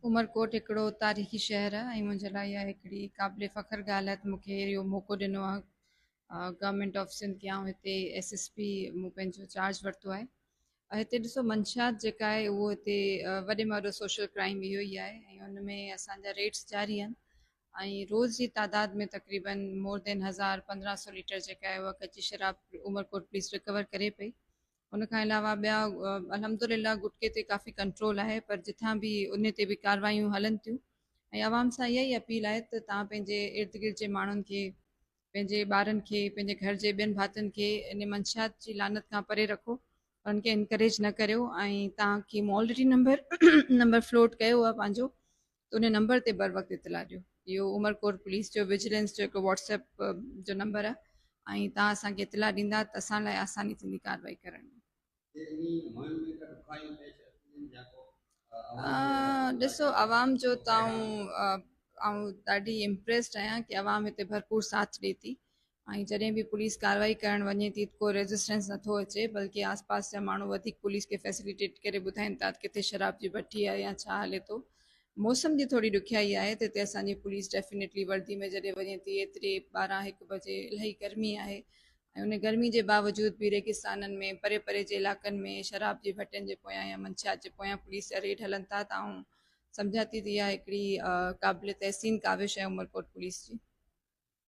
عمرڪوٽ هڪڙو تاريخي شهر آهي ۽ منهنجي لاء اها هڪڙي قابل فخر ڳالهه آهي ته مون کي اهو موقعو ڏنو آهي گورنمينٽ آف سنڌ کي آئون هتي ايس ايس پي مون پنهنجو چارج ورتو آهي هتي ڏسو منشيات جيڪا آهي اهو هتي وڏي ۾ وڏو سوشل ڪرائم اهو ئي آهي ۽ ان ۾ اسانجا ريٽس جاري آهن ۽ روز جي تعداد ۾ تقريبن مور دين هزار پندرهن سو ليٽر جيڪا آهي اها ڪچي شراب عمرڪوٽ پوليس رڪور ڪري پئي ان کان علاوه ٻيا الحمدلله گٽڪي تي ڪافي ڪنٽرول آهي پر جتان به ان تي به ڪاروايون هلن ٿيون ۽ عوام سان اها ئي اپيل آهي ته تان پنهنجي ارد گرد جي ماڻهن کي پنهنجي ٻارن کي پنهنجي گهر جي ٻين ڀاتين کي ان منشيات جي لعنت کان پري رکو ان کي انڪريج نه ڪريو ۽ تان ڪي مالڊري نمبر نمبر فلوٽ ڪيو آهي پنهنجو ته ان نمبر تي بروقت اطلاع ڏيو اهو عمرڪوٽ پوليس جو وجيلنس جو هڪ واٽس ايپ جو نمبر آهي ۽ تان اسان کي اطلاع ڏيندا ته اسان لاء آساني ٿيندي ڪارروائي ڪرڻ ۾ ڏسو عوام جو تون آئون ڏاڍي امپريسڊ آهيان ڪي عوام هتي ڀرپور ساٿ ڏي ٿي ۽ جڏهن به پوليس ڪارروائي ڪرڻ وڃي ٿي ته ڪو ريزسٽنس نه ٿو اچي بلڪه آس پاس جا ماڻهو وڌيڪ پوليس کي فيسليٽيٽ ڪري ٻڌائين ٿا ته ڪٿي شراب جي بٺي آهي يا ڇا هلي ٿو. موسم جي ٿوري ڏکيائي آهي ته هتي اسان جي پوليس ڊيفينيٽلي وردي ۾ جڏهن وڃي ٿي ايتري ٻارهن هڪ بجي الائي گرمي آهي ۽ ان گرمي جي باوجود به ريگستانن ۾ پري پري جي علائقن ۾ شراب جي ڀٽين جي پويان يا منشيات جي پويان پوليس جا ريڊ هلن ٿا ته آئون سمجهان ٿي ته اها هڪڙي قابل تحسين ڪاوش آهي عمرڪوٽ پوليس جي.